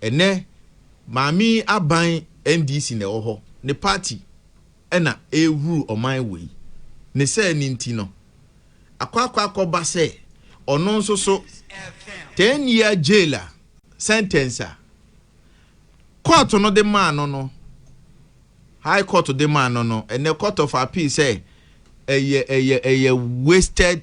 Ɛnnɛ Maame yi aban NDC na ɛwɔ hɔ, ne party ɛna ɛrehuru ɔman wei. Ne sɛɛ no nti no, akɔ akɔ akɔba sɛ ɔno nso so 10 year jail a sentence a court no de maa no no, High Court de maa no no, ɛnnɛ Court of Appeal sɛ ɛyɛ ɛyɛ ɛyɛ wasted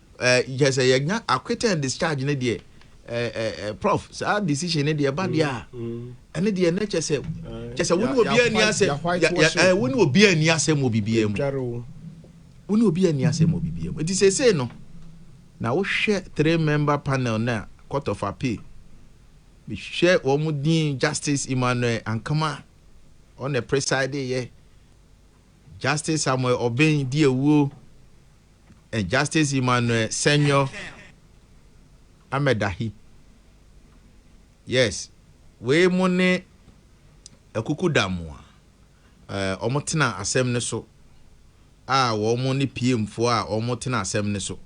Eh, kyɛ sɛ yɛnya acquit and discharge no deɛ eh, eh, eh, prof saa decision no deɛ ɛba deɛ a mm, mm. ɛne deɛ ɛnɛ kyɛ sɛ kyɛ sɛ wo ne obi ani asɛm wo ne obi ani asɛm wɔ biribiara mu wo ne obi ani asɛm wɔ biribiara mu nti seesei no na wohwɛ three member panel no a court of appeal mehwɛ wɔn din justice emmanuel ankama ɔna preside yɛ Justice Samuel Obeng di awuo and Justice Emmanuel Senyo Amedahi. Yes, wei mo ne akuku da mo a eh, wɔn tena asɛm no so a wɔn ne PM foɔ a wɔn tena asɛm no so.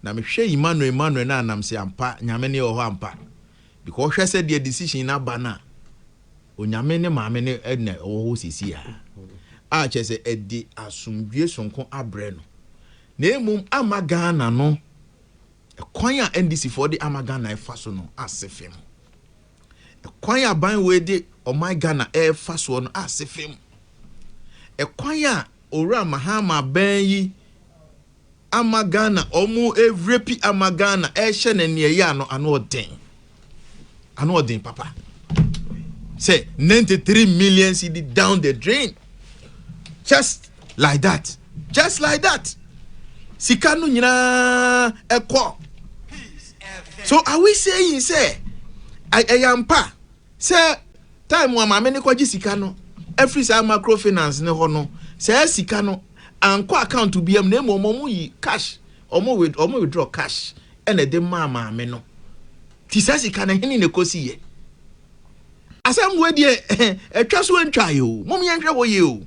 Na mehwɛ Emmanuel Emmanuel no a nam se ampa nyame ne wɔ hɔ ampa. Because wohwɛ sɛdeɛ decision no aba no a, Onyame ne maame no na ɛwɔ hɔ seesei ara, a kyerɛ sɛ ɛde asomdwoeɛ sononko abrɛ no, na mmom ama Ghana no kwan a NDC foɔ de ama Ghana ɛfa so no ase fam. Ɛkwan a ban wei de ɔman Ghana ɛfa soɔ no ase fam. Ɛkwan a Owura Mahama bɛn yi ama Ghana ɔmo ɛrepi ama Ghana ɛrehyɛ na nea ɛyɛ ano ano ɔden ano ɔden papa sɛ 93 million cedi down the drain just like that just like that sika no nyinaa ɛkɔ so are we saying sɛ ɛyɛ ampa Sɛ time a maame no kɔgye sika no afiri saa macro finance no hɔ no, saa sika no ankɔ account biam na mmom wɔn yi cash, wɔn with wɔn withdraw cash ɛna ɛde maa maame no. Ti saa sika no hene na ɛkɔsi yɛ. Asɛm wei deɛ ɛtwa so ɛntwa ayɛ o, mom yɛnhwɛ hɔ yie o.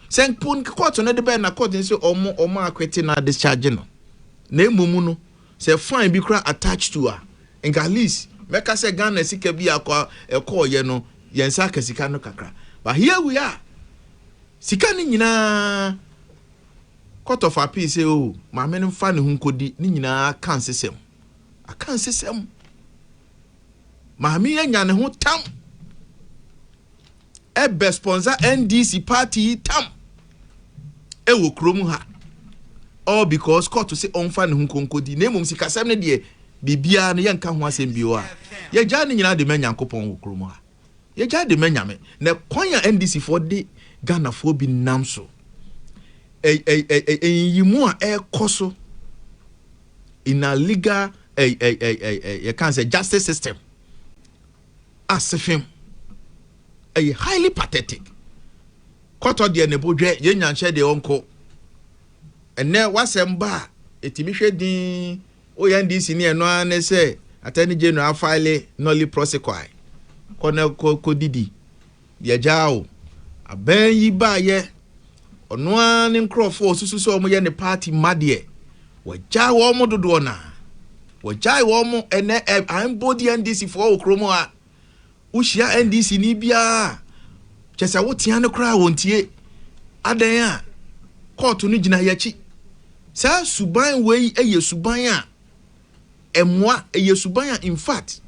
Sɛ nkpo court no de bɛn na court no sɛ wɔn wɔn akwete na discharge no, na mmom no Sɛ fine bi koraa attach to a, nka at least mɛka sɛ Ghana sika bi a ɛkɔɔeɛ no, yɛn nsa aka sika no kakra. But here we are, sika no nyinaa, Court of Appeal sɛ oh, maame no mfa ne ho nkɔdi, ne nyinaa aka nsesɛm. Aka nsesɛm. Maame yi anya ne ho tam. ɛbɛ sponsor NDC party yi tam ɛwɔ kurom ha all because kɔɔto se ɔmfa ne ho nkonkodi na mmom sikasɛm no deɛ biribiara no yɛnka ho asɛm bio a yɛgyaa ne nyinaa de ma Nyankopɔn wɔ kurom ha yɛgyaa de ma Nyame na kwan a NDC foɔ de Ghanafoɔ bi nam so ɛyiyimu a ɛkɔ so in a legal yɛka sɛ justice system asefem ɛyɛ highly pathetic kɔtɔ deɛ ne bo dwɛ yɛn nyanhyɛ deɛ ɔnko ɛnɛ wasɛm ba a ɛtumi hwɛ din woyɛ ndc ne ɛno ara ne sɛ attorney general file nolly prosequi kɔ na kɔ didi Yɛagyaa o. Aban yi baeɛ, ɔno ara ne nkorɔfoɔ a ɔsusu sɛ wɔyɛ ne party mma deɛ, wɔagyaa wɔn dodoɔ no ara. Wɔagyae wɔn, ɛnnɛ ɛ, mpo deɛ NDC foɔ wɔ kurom ha, wohyia NDC ni biara a, kyɛ sɛ wotea no koraa wɔntie. Adɛn a? Kɔɔto no gyina yɛn akyi. Saa suban wei yɛ suban a, ɛmoa ɛyɛ suban a in fact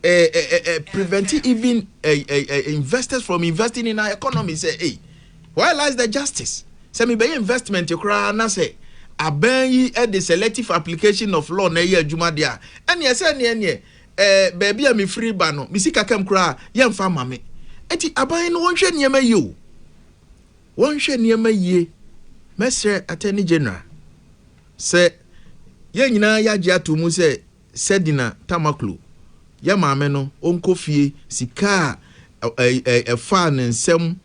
eh, eh, eh, eh, prevent even eh, eh, eh, investors from investing in our economy sɛ hey, where lies the justice sɛ mebɛyɛ investment koraa na sɛ aban yi eh, the selective application of law na ɛyɛ adwuma deɛ a ɛneɛ sɛ ɛneɛ neɛ eh, baabi a mefiri ba no mesi kakam koraa yɛmfa ma me ɛti aban no wɔnhwɛ nneɛma yie o wɔnhwɛ nneɛma yie mɛsrɛ attorney general Sɛ yɛn nyinaa yɛagye ato mu sɛ Sedina Tamaklo, yɛn maame no, ɔnkɔ fie, sika a ɛfaa ne nsam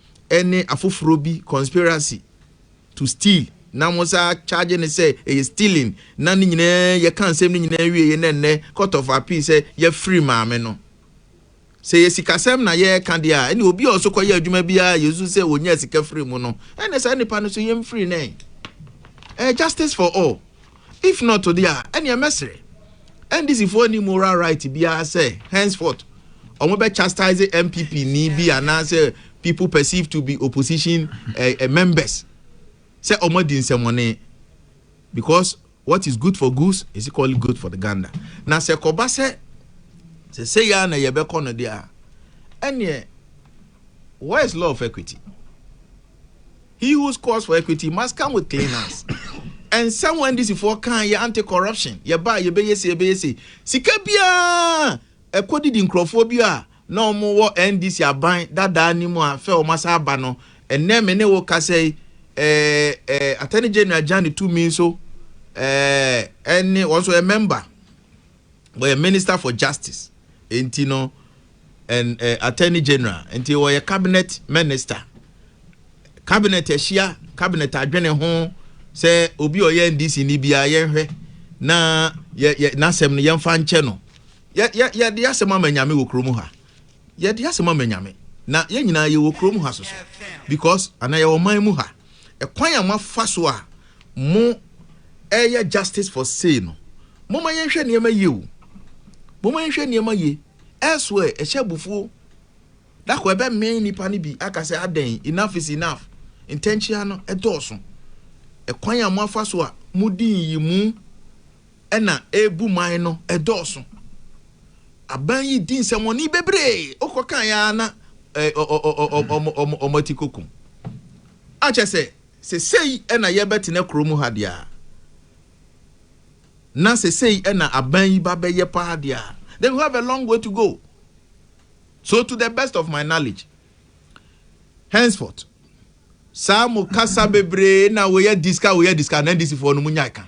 ne afoforɔ bi conspiracy to steal na wɔsaa charge no sɛ ɛyɛ stealing na ne nyinaa yɛka nsɛm no nyinaa wieeɛ na ɛnnɛ Court of Appeal sɛ yɛafiri maame no. Sɛ ɛyɛ sikasɛm na yɛreka deɛ a, ɛnneɛ obi a ɔso kɔyɛ adwuma bi ara a yɛsu sɛ ɔnyaa sika firii mu no, ɛnneɛ saa nipa no so yɛn mfiri no ɛ. Ɛyɛ justice for all. If not deɛ a, ɛnneɛ mɛsrɛ. NDC foɔ nni moral right biara sɛ henceforth wɔn bɛ chastise NPP ni bi anaasɛ people perceived to be opposition eh, eh, members sɛ wɔn adi nsɛmɔne because What is good for goose is equally good for the gander. Na sɛ kɔba sɛ sɛsɛ yɛ a na yɛbɛkɔ no deɛ a ɛneɛ where is law of equity? He who scores for equity must come with clean hands. And someone this for can yɛ anti corruption yɛba a yɛbɛyɛ se yɛbɛyɛ se sika biara ɛkɔ didi nkurɔfoɔ bi a na wɔn wɔ NDC aban dadaa no mu a fɛ wɔn asan aba no ɛnnɛ me ne wo kasa yi ɛɛ ɛɛ Attorney General Jane Tumi nso ɛɛ ɛne wɔn nso yɛ member wɔyɛ Minister for Justice nti no ɛn ɛɛ eh, Attorney General nti wɔyɛ cabinet minister cabinet ahyia cabinet adwene ho sɛ obi ɔyɛ NDC ni bia yɛnhwɛ na yɛ yɛ n'asɛm no yɛnfa nkyɛ no. Yɛ, yɛ, yɛde asɛm ama Nyame wɔ kurom ha. Yɛde asɛm ama Nyame. Na yɛn nyinaa yɛwɔ kurom ha soso. Because, anaa yɛwɔ ɔman mu ha. Ɛkwan a moafa so a mo ɛreyɛ justice for sei no, momma yɛnhwɛ nneɛma yie o. Momma yɛnhwɛ nneɛma yie. Elsewhere, ɛhyɛ abufuo. Da koro ɛbɛmee nnipa no bi aka sɛ adɛn, enough is enough. Ntɛnkyea no ɛdɔɔso. Ɛkwan a moafa so a modi nyiyimu na ɛrebu man no dɔɔso. Aban yi di nsɛmmɔne bebree, wokɔkae ara na wɔn ati kɔkum. Akyɛ sɛ, sesei na yɛbɛtena kuro mu ha deɛ a, na sesei na aban yi ba bɛyɛ paa deɛ a, then we have a long way to go. So to the best of my knowledge, henceforth, saa mo kasa bebree na woyɛ diska woyɛ diska na NDCfoɔ no mo nyae ka.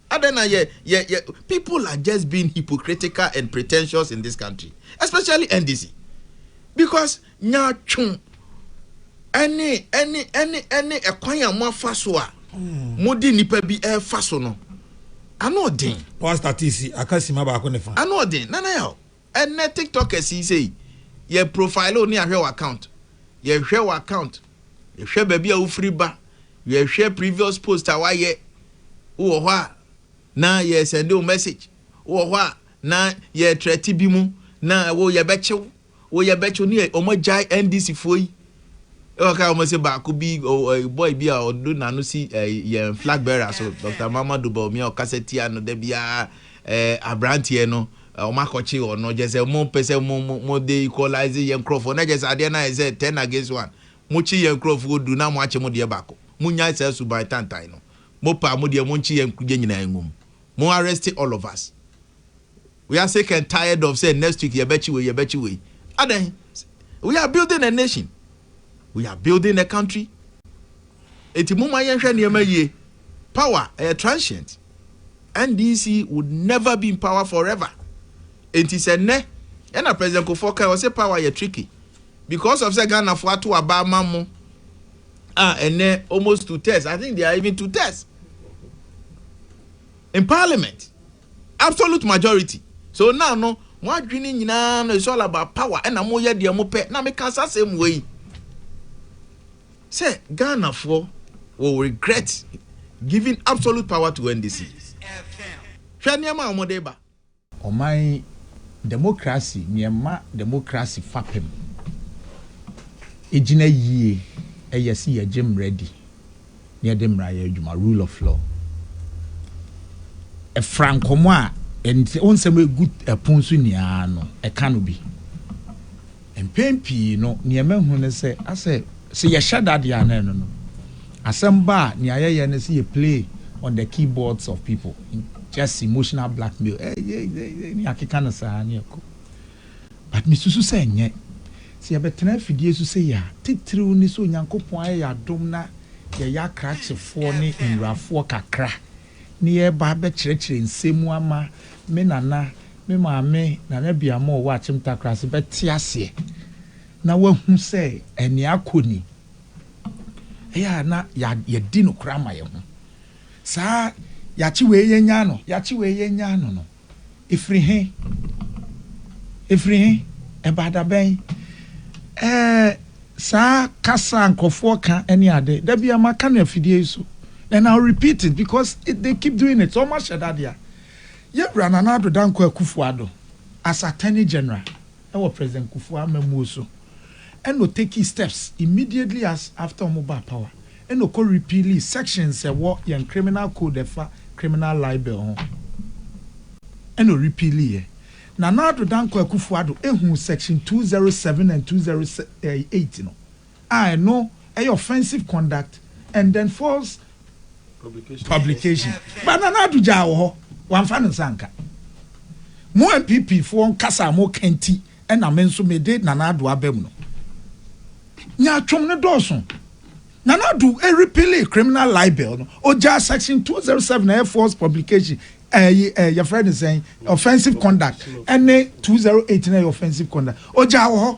Adɛn na yɛ, yɛ, yɛ, people are just being hypocritical and pretentious in this country, especially NDC, because nyaatwo ɛne, ɛne, ɛne, ɛne ɛkwan a moafa so a mode nipa bi ɛrefa so no, ano ɔden. Pastor Tisi, aka sima baako ne fa. Ano ɔden, nana yaw. Ɛnnɛ tiktokers yi sei yɛ profile wo ne ahwɛ wo account yɛhwɛ wo account yɛhwɛ baabi a wofiri ba yɛhwɛ previous post a wayɛ wowɔ hɔ a na yɛ sɛnde wo message wowɔ hɔ a na yɛ trɛte bi mu na wo yɛbɛkye wo wo yɛbɛkye wo ne yɛ ɔmo agyae NDC foɔ yi ɛwɔ ka ɔmo se baako bi boy bi a ɔdo n'ano si yɛn flag bearer so Dr. Mamadu Bawumia ɔkasa tia no da biara abranteɛ no Wɔn akɔkye wɔn no kyerɛ sɛ wɔn pɛ sɛ wɔn wɔn de equalize yɛn nkorɔfoɔ na kyerɛ sɛ adeɛ no ayɛ sɛ ten against one. Mo kye yɛn nkorɔfoɔ du na mo akye mo deɛ baako. Mo nyae saa suban tantan no. Mo pɛ a mo deɛ mo nkye yɛn yɛn nyinaa ngu mu. Mo arrest all of us. We are sick and tired of sɛ next week yɛbɛkye wei yɛbɛkye wei. Adɛn? We are building a nation. we are building a country enti mo ma yɛnhwɛ nneɛma yie power ɛyɛ transient NDC would never be in power forever enti sɛ nnɛ ɛna president kofoɔ kan ɔsɛ power yɛ tricky because of sɛ Ghana fo ato aba ama mo a ɛnɛ almost two thirds I think they are even two thirds in parliament. Absolute majority. So now no mo adwene nyinaa no is all about power ɛna mo yɛ deɛ mo pɛ na me ka saa sɛm wei sɛ Ghana foɔ will regret giving absolute power to NDC hwɛ nneɛma a wɔn de ba. Ɔman yi democracy neɛ ɛma democracy fapem gyina yie yɛ se yɛgye mmara di yɛde mmara yɛ adwuma, rule of law. Ɛfra nkɔmmɔ a ɛnsɛ wo nsɛm egu ɛpon so nyinaa no, ɛka no bi. Mpɛn pii no, nea mahu ne sɛ, asɛ sɛ yɛhyɛ da deɛ a na ɛno no. Asɛm ba a, nea yɛyɛ ne sɛ yɛ play on the keyboards of people, just emotional blackmail, eh, yeah, yeah, yeah, ne yɛakeka no saa ne ɛkɔ. But mesusu sɛ ɛnyɛ. Sɛ yɛbɛtena afidie so sei a, titiriw ne sɛ Onyankopɔn ayɛ yɛn adom na yɛyɛ akrakyefoɔ ne nwurafoɔ kakra, na yɛreba abɛkyerɛkyerɛ nsɛm mu ama me nana, me maame, Nana Biamoh a ɔwɔ Akyem Takorase bɛte aseɛ na wahu sɛ ɛnea akɔ ni. Ɛyɛ a na yɛadi nokorɛ ama yɛn ho. Saa, Yɛakye wei yɛnyaa no, yɛakye wei yɛnyaa no no, Ɛfiri he? Ɛfiri he? Ɛbaa da bɛn? Ɛɛ, saa kasa a nkurɔfoɔ ka ne ade, da biara maka no afidie yi so, and I'll repeat it because it, they keep doing it, sɛ wɔahyɛ da deɛ a. Yɛwura Nana Addo Dankwa Akufo-Addo, as Attorney General, wɔ President Kufuor amammuo so ɛna ɔtakii steps immediately as after wɔn baa power ɛna ɔkɔ repealii sections ɛwɔ yɛn criminal code ɛfa criminal libel ho ɛna ɔrepealiiɛ. Nana Addo Dankwa Akufo-Addo ehuu section two zero seven and two zero eight no. a ɛno ɛyɛ offensive conduct and then false publication but Nana Addo gyaa wɔ hɔ wamfa ne nsa anka mo NPP foɔ nkasa a moka nti ɛna me nso mede Nana Addo aba mu no nyaatwom no dɔɔso Nana Addo repealing criminal libel no ogyaa section 207 ɛyɛ false publication ɛyi ɛyɛ yɛfrɛ ne sɛn offensive conduct ɛne 208 na ɛyɛ offensive conduct ogyaa wɔ hɔ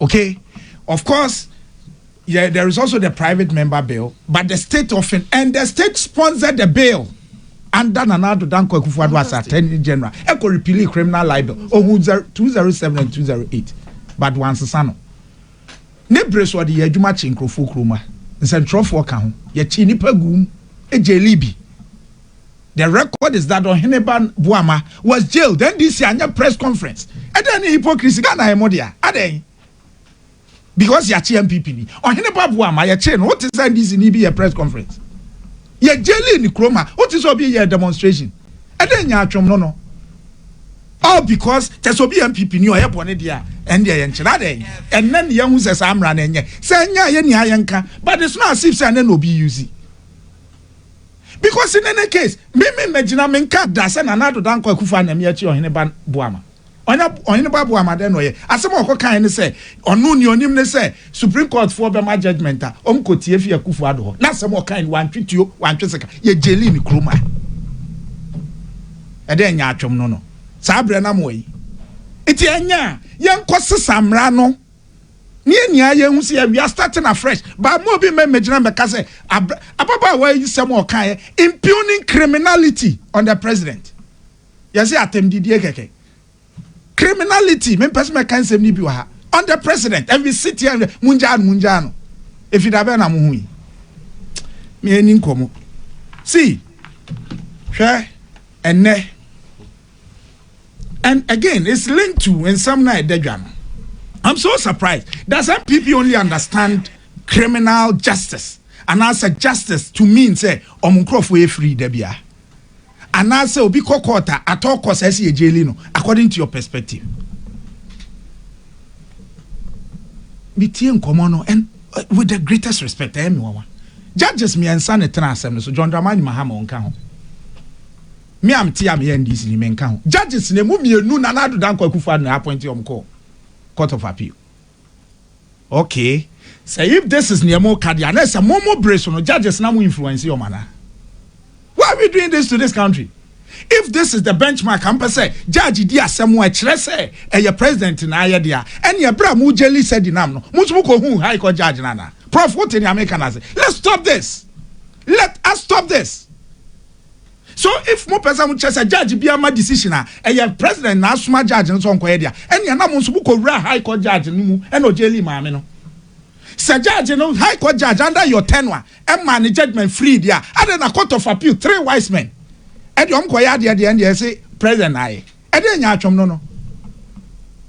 Okay, of course, yeah, there is also the private member bill, but the state often and the state sponsored the bill under Nana Addo Dankwa Akufo-Addo as Attorney General. Echo repealing criminal libel. Ohun 207 and 208. But once sano. Ne bere so de adwuma kye nkurɔfoɔ kuroma. Nsɛntwerɛfoɔ ka ho. Yɛkye nipa gum. Egye libi. The record is that Ohene ba Boama was jailed, NDC anyɛ press conference. Ɛdɛn ne hypocrisy, Ghana yɛ mo dea, adɛn? Because yɛakye MPP ni. Ohene ba Boama yɛkyee no, wote sɛ NDC ni bi yɛ press conference. Yɛ jaili ne kurom ha, wote sɛ obi yɛ demonstration. Ɛdɛn nya atwom no no? All because kyɛ sɛ obi yɛ MPP ni ɔyɛ bɔne deɛ a, ɛndeɛ yɛnkye no, adɛn? Ɛnnɛ ne yɛahu sɛ saa mmara no ɛnyɛ. Sɛ ɛnyɛ a yɛnni ha yɛnka, but it's not as if sɛ ɛnnɛ na obi use. Because in any case, me me me gyina me nka da sɛ Nana Addo Dankwa Akufo Anyame akyi Ɔhene Ba Boama. Ɔnya Ɔhene Ba Boama dɛn na ɔyɛ? Asɛm a ɔkɔ kae ne sɛ ɔno nea ɔnim ne sɛ Supreme Court foɔ bɛma judgement a, wɔn kɔ tie fi Akufo Addo hɔ. Na asɛm a ɔkae no wantwe tuo, wantwe sika. Yɛ jaili no kurom a ɛdɛn nyaatwom no no saa berɛ no ama wayi. Nti ɛnyɛ a yɛnkɔ sesa mmara no. ne yɛn nyinaa yɛhu sɛ yɛ we are starting afresh but mo obi mma mmɛgyina mmɛka sɛ ababaawa yi nsɛm a ɔkaeɛ impugning criminality on the president yɛse atɛmdidie kɛkɛ criminality mempɛ sɛ mɛka nsɛm no bi wɔ ha on the president and we sit here and mungyaa no mungyaa no ɛfiri da bɛn na mo ho yi meɛni nkɔmmɔ see hwɛ ɛnnɛ and again it's linked to nsɛm na ɛda dwa no i'm so surprised does npp only understand criminal justice And as a justice to mean sɛ ɔmo nkorɔfoɔ yɛ free da bia anaasɛ obi kɔ court a atɔ kɔ saa si yɛ gyeli no according to your perspective metie nkɔmɔ no and uh, with the greatest respect ɛyɛ me wawa judges mmiɛnsa ne tena asɛm no so john dramani mahama ɔnka ho Me a mete a meyɛ NDC ni menka ho. Judges no emu mmienu Nana Addo Dankwa Akufo Addo na appointe wɔn kɔɔ Court of Appeal. Okay, sɛ if this is nea moka deɛ a na ɛsɛ mo mo bere so no judges na mo influence wɔn anaa? Why are we doing this to this country? If this is the benchmark a mopɛ sɛ judge di asɛm a ɛkyerɛ sɛ ɛyɛ president na ayɛ deɛ a, ɛneɛ bere a mo gyeli sɛdi nam no mo nso mokɔhuu high court judge no anaa? Prof wote nea meka no ase? Let's stop this! Let us stop this! So if mo pɛ sɛ mo kyerɛ sɛ judge biara ma decision a ɛyɛ president na asoma judge no sɛ ɔnkɔyɛ de a, ɛnea na mo nso mo kɔ wuraa high court judge no mu ɛna ɔjailii maame no. Sɛ judge no, high court judge under your tenure ɛmaa ne judgement free de a, adɛn na court of appeal, three wise men ɛde wɔn kɔyɛ adeɛ de ɛndeɛ ɛse president na ayɛ? Ɛdeɛ nyaatwom no no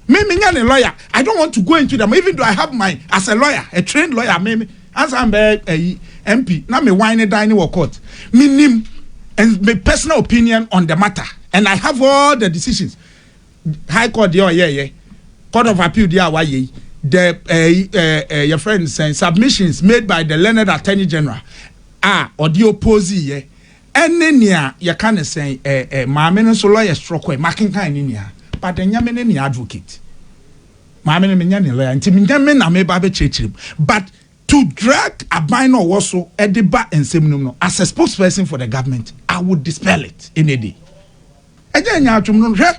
me me nya ne lawyer I don't want to go into them even though I have my as a lawyer a trained lawyer me me ansa mbɛ ayi MP na me wine ne dan ne wɔ court me nim and me personal opinion on the matter and I have all the decisions high court deɛ ɔyɛ yɛ court of appeal deɛ a wayɛ yi the ɛyi ɛɛ yɛ friend sɛn submissions made by the learned attorney general a ɔde oppose yɛ. Ɛne nea yɛka no sɛn? Ɛ ɛ maame no nso lɔya sorɔkɔ ɛ. Makenkan ne nua but ɛnyɛ me ne ne advocate. Maame no menyɛ ne lɔya nti menyɛ me na meba abɛkyerɛkyerɛ mu but to drag aban no a ɔwɔ so de ba nsɛm no mu no as a spokesperson for the government I would dispel it any day. Ɛnyɛ nyaatwom no. Hwɛ!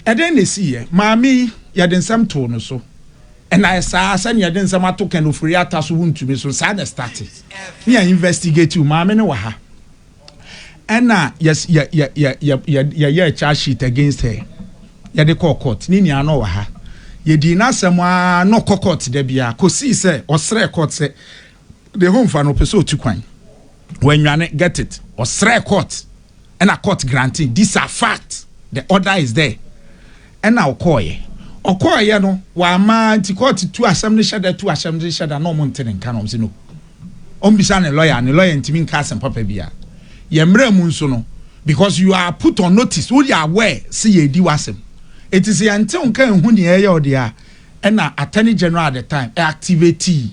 Ɛdɛn na esiiɛ? Maame yi, yɛde nsɛm too no so. Ɛnna ɛsaa sɛnea yɛde nsɛm ato Ken Ofori Atta so wontumi so no, saa na ɛstate. Ne yɛ investigate wo. Maame no wɔ ha. Ɛnna yɛs yɛ yɛ yɛ yɛ yɛ yɛyɛɛ charge sheet against her. Yɛde kɔɔ court. Ne nua no wɔ ha. Yɛdii n'asɛm ara na ɔkɔ court da biara kɔsii sɛ ɔsrɛɛ court sɛ deɛ home fa no ɔpɛ sɛ ɔtu kwan wɔanwane get it ɔsrɛ court ɛna court granting these are fact the order is there ɛna ɔkɔɔyɛ ɔkɔɔyɛ no wama nti court tu asɛm no hyɛ da tu asɛm no hyɛ da na ɔmo nte ne nka na ɔmo sɛ no ɔmbisa ne lawyer ne lawyer ntumi nka asɛm papa bia yɛ mmerɛ mu nso no because you are put on notice woyɛ aware sɛ yɛdi w'asɛm ɛti sɛ yɛnte wo nka ɛhu ne ɛyɛ ɔde a ɛna attorney general at the time activate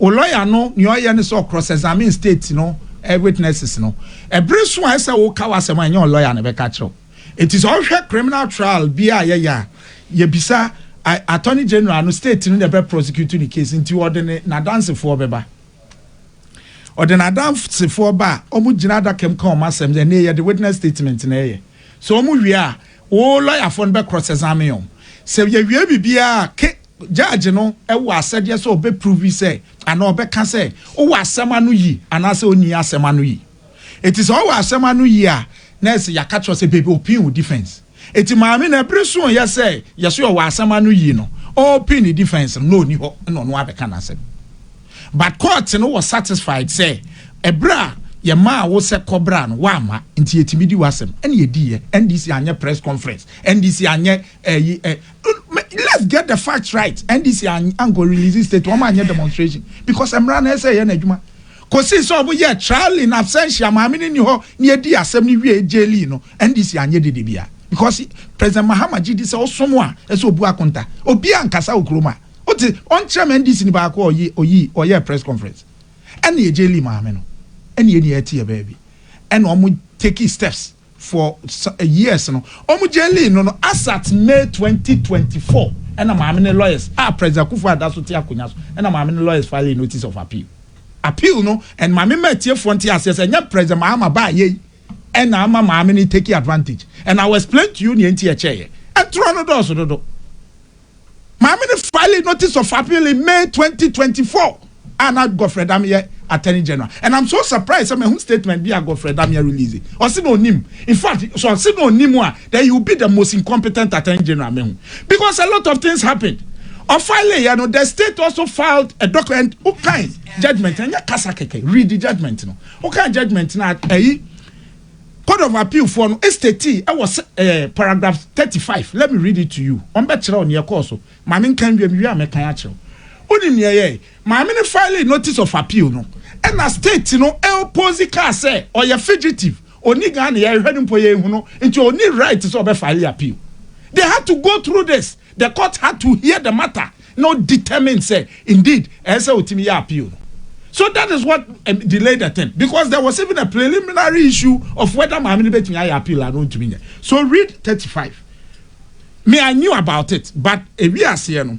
O lawyer no nea ɔyɛ ne sɛ ɔcross examine state no witnesses no. Ɛbere so a ɛsɛ sɛ woka w'asɛm a ɛnyɛ wo lawyer na ɛbɛka akyerɛ wo. Enti sɛ wohwɛ criminal trial bi a yɛyɛ a, yɛbisa Attorney General no, state no na ɛbɛ prosecute ne case nti ɔde ne n'adansefoɔ bɛba. Ɔde n'adansefoɔ ba a, wɔgyina adaka mu ka wɔn asɛm. Ɛnneɛ yɛde witness statement na ɛyɛ. Sɛ wɔwie a, wo lawyer foɔ no bɛ cross examine wɔn. Sɛ yɛwie biribiara a, Judge no wɔ asɛdeɛ sɛ ɔbɛ provi sɛ anaa ɔbɛka sɛ wowɔ asɛm ano yi anaasɛ ɔnni asɛm ano yi. Eti sɛ ɔwɔ asɛm ano yi a, na ɛse yɛaka kyerɛ wo sɛ baby open wo defense. Eti maame no bere soeɛ sɛ yɛse ɔwɔ asɛm ano yi no, ɔreopen ne defense no na ɔnni hɔ na ɔno ara bɛka n'asɛm. But court no wɔ satisfied sɛ ɛberɛ a yɛmaa wo sɛ kɔ bra no woamma nti yɛtumi di w'asɛm ɛna yɛdiiɛ. NDC anyɛ press conference, NDC anyɛ ɛyi eh, Let's get the facts right. NDC anko release state wɔn anyɛ demonstration because mmara na ɛsɛ yɛ n'adwuma. Kosi sɛ wɔn yɛ trial in absentia maame ne ni hɔ ne edi asɛm ne wie jeli no NDC anyɛ dede bia because President Mahama gye di sɛ ɔsom a ɛsɛ obu akonta obi ankasa wɔ kurom a ɔte ɔnkyerɛ ma NDC ni baako ɔyi ɔyi ɔyɛ press conference ɛne yɛ jeli maame no ɛne yɛ ni ɛte yɛ baabi ɛna wɔn take steps. for years no ɔmo gyɛɛlii no no as at May twenty twenty four ɛna maame ne lawyers a President Akufo Addo so te akonwa so ɛna maame ne lawyers filii notice of appeal appeal no and maame mma atiefoɔ nte aseɛ sɛ ɛnyɛ President Mahama baa yɛ yi ɛna ama maame ne take advantage and I will explain to you nea nti ɛkyɛɛyɛ ɛtorɔ no dɔɔso dodo. Maame no filed notice of appeal in May twenty twenty four a na Godfred Dame yɛ Attorney General and I'm so surprised sɛ mahu statement bi a Godfred Dame release. Ɔse na ɔnim. In fact, sɛ ɔse na ɔnim a, then he will be the most incompetent Attorney General a mahu because a lot of things happened. Ɔfile yɛ no, the state also filed a document. Wokan judgement no, ɛnyɛ kasa kɛkɛ, read judgement no. Wokan judgement no a, ɛyi. Court of Appeal foɔ no statii ɛwɔ sɛ ɛɛ paragraph thirty five let me read it to you wɔn bɛ kyerɛ wo neɛ ɛkɔɔ so ma me nka nwie me wie a mɛ kan akyerɛ wo wonim neɛ ɛyɛɛ maame no filed notice of appeal no ɛna state no ɛoppose kaa sɛ ɔyɛ fugitive ɔni Ghana yɛhwɛ no mpo yɛnhu no nti ɔni right sɛ ɔbɛ file appeal they had to go through this. The court had to hear the matter na o determine sɛ indeed ɛyɛ sɛ otumi yɛ appeal no. So that is what um, delayed the thing because there was even a preliminary issue of whether maame no betumi ayɛ appeal anaa ontumi nyɛ. So read thirty five. Me I knew about it but ewi aseɛ no.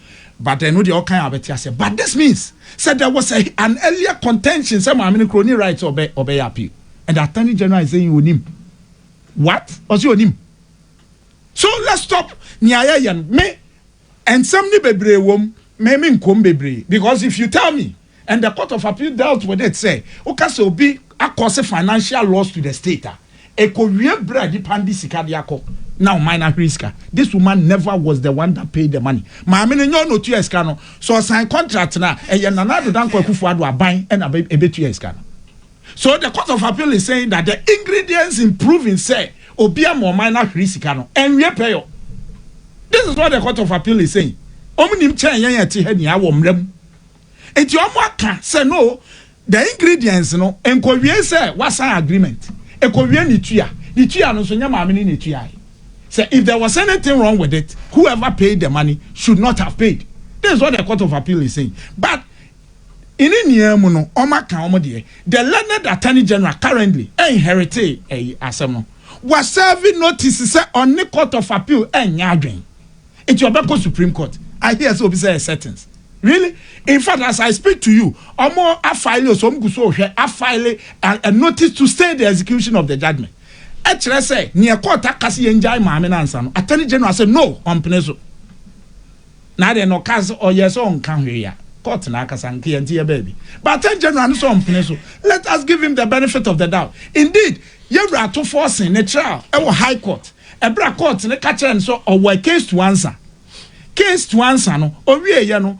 But ɛno deɛ ɔkan a wobɛte aseɛ but this means sɛ there was a, an earlier contention sɛ maame no kura ɔni right sɛ ɔbɛ ɔbɛyɛ appeal and the attorney general is saying onim what ɔsi onim so let's stop nea yɛyɛ no me nsɛm ne bebree wɔm me me nkɔm bebree because if you tell me And the court of appeal dealt with it sɛ woka sɛ obi akɔse financial loss to the state a ɛkɔwie berɛ a nipa no de sika de akɔ na ɔman no ahwere sika. This woman never was the one that paid the money. Maame no nyɛ ɔna ɔtua sika no. Sɛ ɔsan contract no a ɛyɛ Nana Addo Dankwa Akufo Addo aban na ɛbɛtua sika no. So the court of appeal is saying that the ingredients in proving sɛ obi ama ɔman no ahwere sika no ɛnwie pɛyɔ. This is what the court of appeal is saying. Ɔmo nim kyɛn yɛn a ɛte ha nyinaa wɔ mmara mu. nti ɔmo aka sɛ no the ingredients no nkowie sɛ wasan agreement ɛkowie ne tua ne tua no nso nyɛ maame ne ne tuae sɛ if there was anything wrong with it whoever paid the money should not have paid this is what the court of appeal is saying but ɛne nyinaa mu no ɔmo aka ɔmo deɛ the learned attorney general currently ɛnherete ɛyi asɛm no wasɛve notice sɛ ɔne court of appeal ɛnyɛ adwen Nti ɔbɛkɔ supreme court. I hear sɛ obi sɛ yɛ settings. Really? In fact as I speak to you, ɔmo afile o so ɔmo gu so rehwɛ afile a, a notice to stay the execution of the judgement. Ɛkyerɛ sɛ neɛ court aka sɛ yɛngyae maame no ansa no, attorney general sɛ no ɔmpene so. Na adeɛ no ɔkaa sɛ ɔyɛ sɛ ɔnka hwee a, court no akasa nka yɛnte yɛ baabi. But attorney general no sɛ ɔmpene so. Let us give him the benefit of the doubt. Indeed, yɛwura Atufoɔ se ne trial ɛwɔ high court. Ɛberɛ a court no ka kyerɛɛ no sɛ ɔwɔ a case to answer, case to answer no ɔwieeɛ no,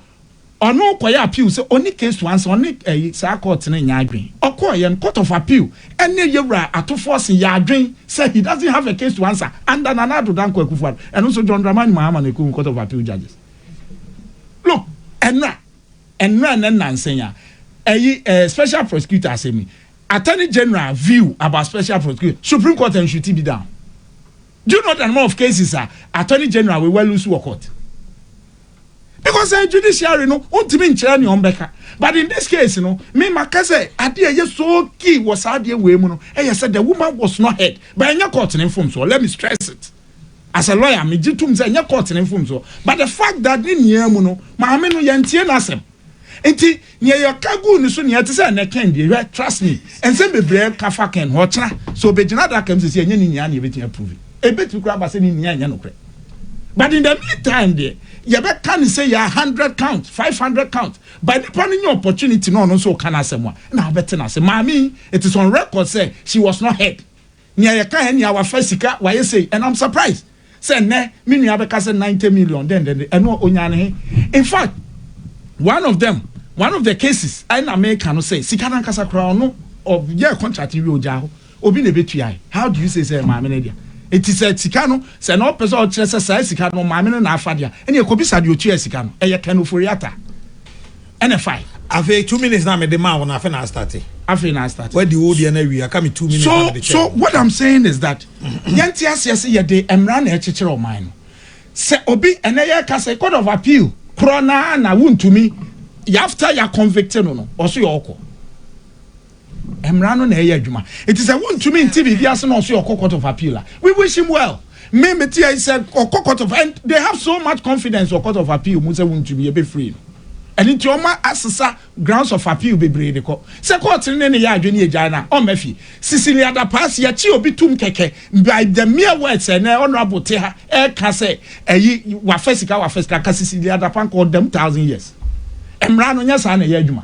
ɔno kɔyɛ appeal sɛ ɔnni case to answer, ɔne ɛyi saa court no nyɛ adwen. Ɔkɔeɛ no, court of appeal ne Yawura Atufoɔ se yɛ adwen sɛ he doesn't have a case to answer under Nana Addo Dankwa Akufo-Addo. Ɛno nso John Dramani Mahama na ɛkɔhu court of appeal judges. Look, ɛnna, ɛnna ne nnansa yi a ɛyi ɛɛ special prosecutor asɛm yi, Attorney General view about special prosecutor, Supreme Court and Shuti bi down. Do you know the number of cases a Attorney General we were lose wɔ court? Because uh, judiciary no ontimi nkyerɛ ne ɔmbɛka. But in this case no, me maka sɛ ade a ɛyɛ so key wɔ saa adeɛ wei mu no ɛyɛ sɛ the woman was not heard. But ɛnyɛ court ne mfomsoɔ. Let me stress it. As a lawyer, megye tom sɛ ɛnyɛ court ne mfomsoɔ. But the fact that ne nyinaa mu no, maame no yɛntie n'asɛm. Nti nea yɛka guu ne so nea ɛte sɛ ɛnɛ Ken deɛ hwɛ trust me nsɛm bebree ka fa Ken ho ɔkyena sɛ ɔbɛgyina adaka mu sisi ɛnyɛ ne nyinaa nea ɛbɛtumi approve ɛbɛtumi koraa aba sɛ ne nyinaa ɛnyɛ nokorɛ but in the meantime deɛ yɛbɛka ne sɛ yɛ 100 count 500 count but nipa no nyɛ opportunity na ɔno nso ɔka no asɛm a na abɛte no ase maame it is on record sɛ she was not heard Nea yɛka ɛ nea wafa sika wayɛ sei and I'm surprised sɛ nnɛ me nua bɛka sɛ ninety million dɛn dɛn dɛn ɛno onyaa no he? Infact one of them one of the cases ɛ na meka no sɛ sika no ankasa koraa ɔno ɔyɛɛ contract no wie ogyaa hɔ obi na ɛbɛtuae how do you say sɛ ɛyɛ maame no dea? Enti sɛ sika no sɛ na ɔpɛ sɛ ɔkyerɛ sɛ saa sika no maame no na afa dea ɛnneɛ kɔbisa deɛ ɔtuaa sika no ɛyɛ Ken Ofori-Atta. Ɛna ɛfae. Afei two minutes na mede maa wo no afei na astate. Afei na astate. Wadi wo deɛ na awie aka me two minutes so, na mede kyɛɛ. So what I'm saying is that yɛnte aseɛ sɛ yɛde mmara na ɛkyekyere ɔman no. Sɛ obi ɛnɛ yɛka sɛ court of appeal korɔ naa na wontumi after yɛ convict no no ɔso yɛ ɔkɔ. Mmara no na ɛyɛ adwuma. Enti sɛ wontumi nte biribi ase na ɔso yɛ ɔkɔ court of appeal a, we wish him well. Me mete ɛyi sɛ ɔkɔ court of and they have so much confidence wɔ court of appeal mu sɛ wontumi yɛ bɛfiri no. Ɛno nti ɔma asesa grounds of appeal bebree de kɔ. Sɛ court no ne ne yɛ adwene yɛgyae no a, ɔmma fie. Cecily Adapaase, yɛkye obi tom kɛkɛ by the mere words sɛ ɛnɛ honourable te ha ɛreka sɛ ɛyi wafa sika wafa sika, nka Cecily Adapankɔ ɔda mu thousand years. Mmara no nyɛ saa na ɛyɛ adwuma.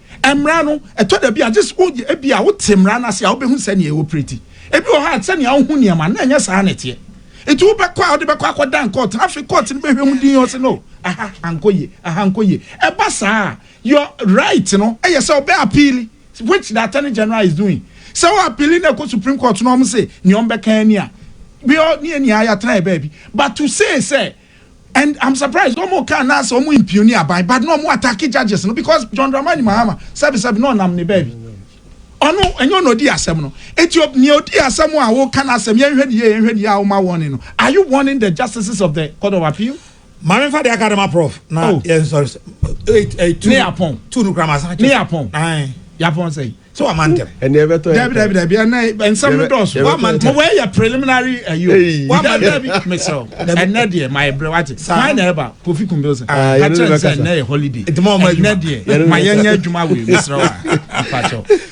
Mmara no, ɛtɔ da bi a, gye sɛ woyɛ, ebia wote mmara no ase a, wubehu sɛnea ɛopereti. Ebi wɔ hɔ a, sɛnea wohu nneɛma no, na ɛnyɛ saa na ɛteɛ. Enti wobɛkɔ a, wode bɛkɔ akɔdan kɔɔto no. Afei kɔɔto no bɛhwɛ mu dinn, wɔse, No, aha ankɔ yie, aha ankɔ yie. Ɛba saa a, your right no yɛ sɛ wobɛapiili, which the Attorney General is doing. Sɛ woapiili na ɛkɔ Supreme Court na wɔse nea wɔbɛka ara ni a, ne yɛn nyinaa yɛatena yɛn baabi. But to say sɛ. And I'm surprised wɔn ka na sɛ wɔn mpioni aban but na wɔn attack judges no because John Dramani Mahama sɛbi sɛbi na ɔnam ne baabi ɔno ɛnyɛ ɔna odi asɛm no eti o nea odi asɛm a wɔka na asɛm yɛn hwɛ ne yie yɛn hwɛ ne yie a wɔma warning no are you warning the justices of the court of appeal. Maame nfa de aka de ma prof na oh. yɛn sɔrɔ sɛ. Ne yapɔn. Tu nukura ma sa. Ne yapɔn. Yapɔn sɛ. sɛ wama ntɛm. ɛnna ɛbɛtɔ yɛ dabi dabi dabi ɛnna nsɛm no dɔɔso wama ntɛm. mo wɔ yɛ preliminary ɛyi o wama dabi mesrɛw ɛnna deɛ ma yɛ brɛ wate maa na ɛba kofi kun bills kakyɛ nsɛ ɛnna yɛ holiday ɛnna deɛ ma yɛ nyɛ adwuma wei mesrɛw a mpatsɔ.